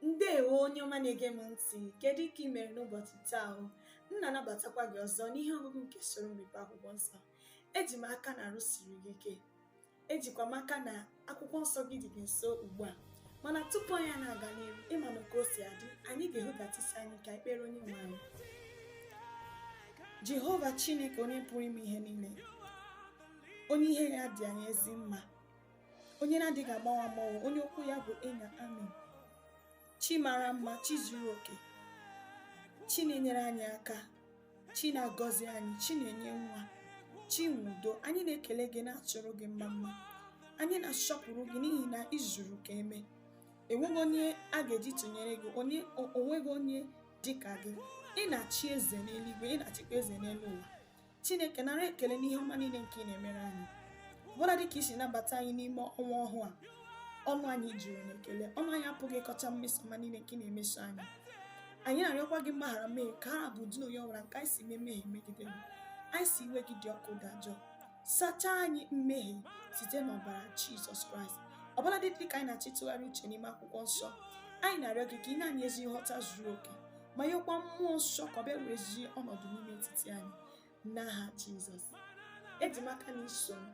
ndewo onye ọma na-ege m ntị kedu ka ị mere n'ụbọchị taa a m na-anabatakwa gị ọzọ n'ihe ọgụgụ nke soro mmepe akwụkwọ nsọ eji m aka na arụ siri gị ike ejikwa m aka na akwụkwọ nsọ gị dị gị nso ugbu a mana tupu anyị na-aga n'ihu ị ma na ka o si adị anyị ga-ehudata isi anyị ka ekpere onye nwe anyị jehova chineke onye pụrụ ime ihe niile onye ihe ya dị anyị ezi mma onye na-adịghị agbanwe agbanwe onye okwu ya bụ ee na amin chi mara mma chi zuru oke chi na-enyere anyị aka chi na-agọzi anyị chi na-enye nwa chi nwe udo anyị na-ekele gị na-achụrụ gị mma mma anyị na-asọpụrụ gị n'ihi na i zuru ka eme enweghị onye a ga-eji tụnyere gị o nweghị onye dị ka gị ị na-achị eze n'eluigwe ị na-achịkwa eze n'elu ụwa chineke nara ekele n'ihe ọma niile nke ị na-emere anyị ọbụladị ka i si nabata anyị n'ime ọnwa ọhụụ a ọnụ anyị juru n'ekele ọnụ anyị apụghị ịkọcha mmeso ọma niile nke ị na-emeso anyị anyị na-arịọkwa gị mgbaghara mmehie ka a bụ ụdị na onye ọbụla nke anyị si mee mmehie megide gị anyị sị iwe gị dị ọkụ dajụọ sachaa anyị mmehie site n'ọbara jizọs kraịst ọbụladị ka anyị na-achọ ịtụgharị uche n'ime akwụkwọ nsọ anyị na-arịọ gị ka i nye anyị ezi nghọta zuru oke ma nyekwa mmụọ nsọ ka ọ bịa werezie ọnọdụ n'ime etiti anyị n'aha jizọs eji m aka na i so m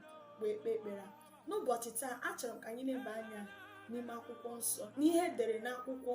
wee kpee ekpere n'ụbọchị taa achọrọ m ka anyị neba anya n'ime akwụkwọ nsọ n'ihe e dere n'akwụkwọ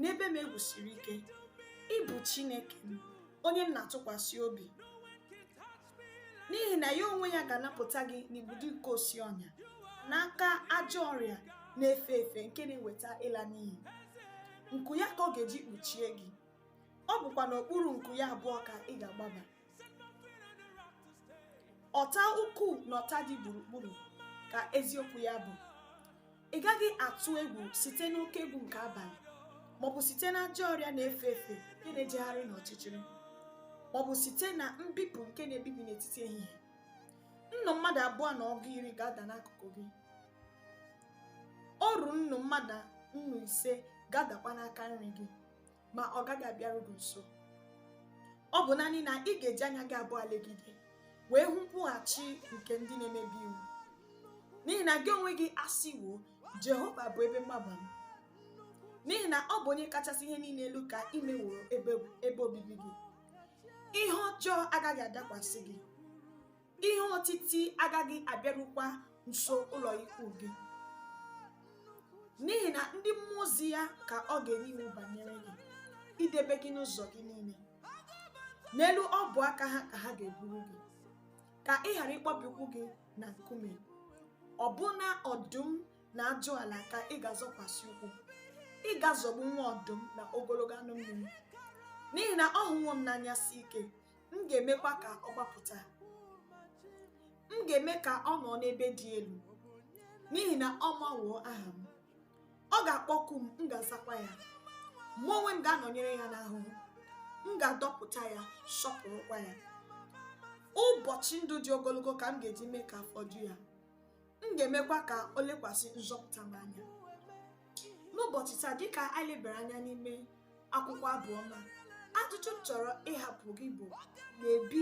na ebe m e wusiri ike ị bụ chineke m onye m na-atụkwasị obi n'ihi na ya onwe ya ga-anapụta gị n'igbudu nke osi ọnya n'aka ajọ ọrịa na-efe efe nke na-eweta ịla n'iyi nku ya ka ọ ga-eji kpuchie gị ọ bụkwa n'okpuru nku ya abụọ ka ị ga-agbaba ọta ukwu na ọta dị gburugburu ka eziokwu ya bụ ị gaghị atụ egwu site n'oke egwu nke abalị maọbụ site na ajọ ọrịa na-efe efe nke na-ejegharị n'ọchịchịrị maọbụ site na mbipụ nke na-ebibi n'etiti ehihie nnu mmadụ abụọ na ọgụ iri ga-ada n'akụkụ gị oru nnu mmadụ nnu ise ga-adakwa n'aka nri gị ma ọ gaghị abịaru gị nso ọ bụ naanị na ị ga-eji anya gị abụọ legide wee hụ nkwụghachi nke ndị na-emebi iwu n'ihi na gị onwe gị asịwo jehova bụ ebe mgbaba m n'ihi na ọ bụ onye kachasị ihe niile elu ka ị meworo ebe obibi gị ihe ọjọọ agaghị adakwasị gị ihe otiti agaghị abịarukwa nso ụlọ ikwu gị n'ihi na ndị mmụọ ozi ya ka ọ ga-enye iwu banyere gị idebe gị n'ụzọ gị niile n'elu ọbụ aka ha ka ha ga-eburu gị ka ị ghara ịkpọbi ụkwụ gị na nkume ọbụna ọdụm na ajụala ka ị ga-azọkwasị ụkwụ ị ga-azọgbu nwa ọdụm na ogologo anụ mmiri n'ihi na ọ hụwo m n'anya si ike m ga-emekwa ka ọ gbapụta m ga-eme ka ọ nọ n'ebe dị elu n'ihi na ọ mawoo aha m ọ ga-akpọku m m ga-azakwa ya mụ onwe m ga-anọnyere ya n'ahụhụ m ga-adọpụta ya sọpụrụkwa ya ụbọchị ndụ dị ogologo ka m ga-eji mee ka afọ ju ya m ga-emekwa ka o lekwasị nzọpụta m anya n'ụbọchị taa dịka anyị lebara anya n'ime akwụkwọ abụ ọma ajụjụ m chọrọ ịhapụ gị bụ na-ebi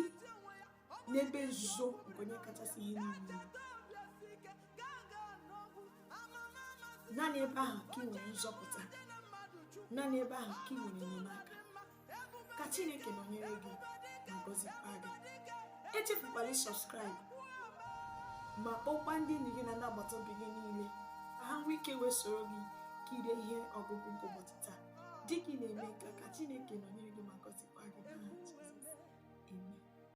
n'ebe nzuzo nke onye kachasị ihe niile naanị ebe ahụ ka ị nwere nzọpụta naanị ebe ahụ ka ị nwere enyemaka ka chineke nọnyere gị ma gọzikwa gị echefukwala ị subscribe ma kpọkwa ndị enyi gị na ndị agbata obi gị niile ka ha nwee ike wee soro gị kirie ihe ọgụgụ nke ụbọchị taa dịka ị na-eme nke a ka Chineke nọnyere gị ma gọzikwa gị n'aha Jizọs amen